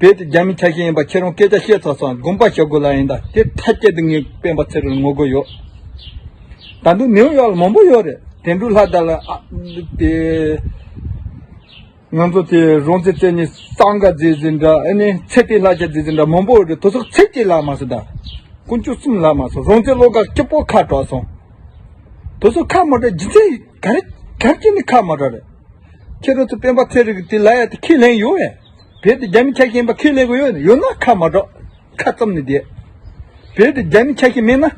བོད་དུ་རྒྱ་མི་ཆགས་ཤིག་ཡིན་པ་ཁྱེད་རང་སྐད་ཆ་བཤད་ཚར་སོང་དགོངས་པ་ཞུ་དགོས་ལ་ཡིན་ད་དེ་ཐ་སྐྱད་དུ་ངས་སྤེན་པ་ཚེ་རིང་ངོ་རྒོལ་ཡོད་ད་འདུག་ནིའུ་ཡོག་ལ་མང་པོ་ཡོད་རེད་དེ་འདྲུ་ལྷ་དར་ལ་ཨ་དེ། ང་ཚོ་དེ་རོང་ཚེ་བརྩེ་ནས་སང་ག་རྫས་ཟིན་འདྲ་ཨེ་ནས་ཚེ་བརྟན་ལྷ་རྒྱལ་རྫས་ཟིན་འདྲ་མང་པོ་ཡོད་རེད་དོ་སོག་ཚེ་སྐྱིད་ལགས་མ་སོང་ད་དཀོན་མཆོག་གསུམ་ལགས་མ་སོང་རོང་ཚེ་བློ་དགའ་སྐྱིད་པོ་ཁ་དྲག་སོང་དོ་སོག་ཁ་མ་དྲག་རྗེ་ཚེ་ག་རེ་ག་རེ་ཀྱི་ནི་ཁ་མ་དྲག་རེད། ཁྱེད་རང་ཚོ་སྤེན་པ་ཚེ་རིང་གི་དེ་ལ་ཡ་དེ་ཁས་ལེན་ཡོད་ཡ། བལ་དེ་རྒྱ་མི་ཆ་ཤེས་པ་ཁས་ལེན་དགོས་ཡོད་ཡོད་ན་ཁ་མ་གྲག་ཁ་བཙུམ་ནས་བསྡད། བལ་དེ་རྒྱ་མི་ཆ་ཤེས་མེད་ན།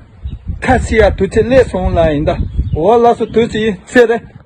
ཁ་སི་ཡ་དུས་ཚེ་སླེ་སོང་ལ་ཡིན་ད་འོ་ལ་སོ་དུས་ཚེ་ཡིན་ཚེ་རེད།